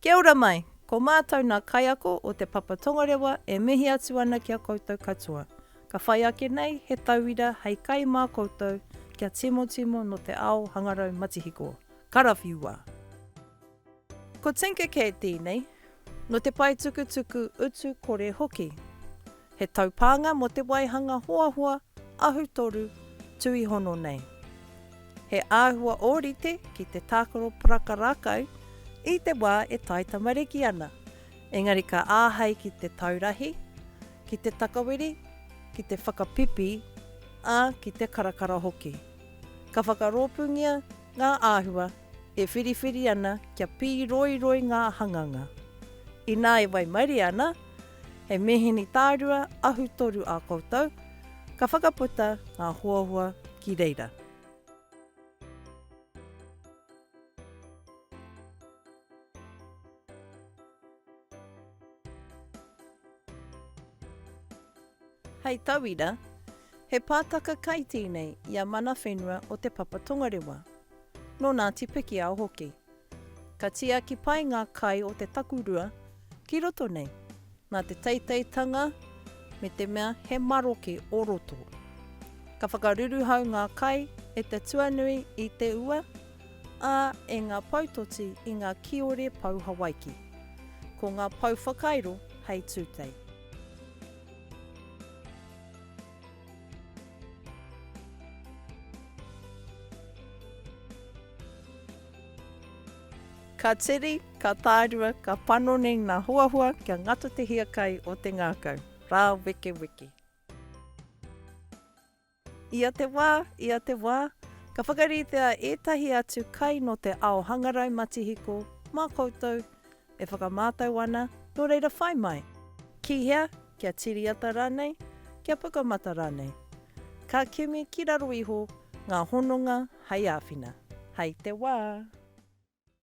Kia ora mai! Ko mātou nā kaiako o Te Papa Tongarewa e mihi atu ana ki a koutou katoa. Ka whai ake nei he tauira hei kai mā koutou kia timotimo nō te ao hangarau matihiko. Karawhiua! Ko Tinker Cat tēnei, nō te paetukutuku utu kore hoki. He taupānga mō te waihanga hoahoa ahutoru tuihono nei. He āhua ōrite ki te tākaro paraka rākau i te wā e tae tamariki ana, engari ka āhei ki te taurahi, ki te takawiri, ki te whakapipi, ā, ki te karakara hoki. Ka whakarōpūngia ngā āhua e whiriwhiri ana kia pīroiroi ngā hanganga. Inā e waimarie ana, He mīhini tārua, ahu toru ā koutou, ka whakaputa ngā huahua ki reira. Hei tauira, he pātaka kai tēnei i a Mana Whenua o Te Papa Tongarewa, nō Ngāti Pikiao hoki. Ka tiaki pai ngā kai o te takurua ki roto nei, nā te teiteitanga me te mea he maroke o roto. Ka whakaruruhau ngā kai e te tuanui i te ua, ā, e ngā poutoti i ngā kiore pou Hawaiki. Ko ngā pou whakairo hei tūtei. Ka tiri, ka tārua, ka panoni ngā huahua kia ngata te hiakai o te ngākau. Rāwekeweke. Ia te wā, ia te wā, ka whakaritea ētahi atu kai nō te ao hangarau matihiko mā koutou E whakamātau ana, nō reira whai mai. Ki hea? Kia tiriata rānei? Kia pukamata rānei? Ka kimi ki raro iho ngā hononga hei āwhina. Hei te wā.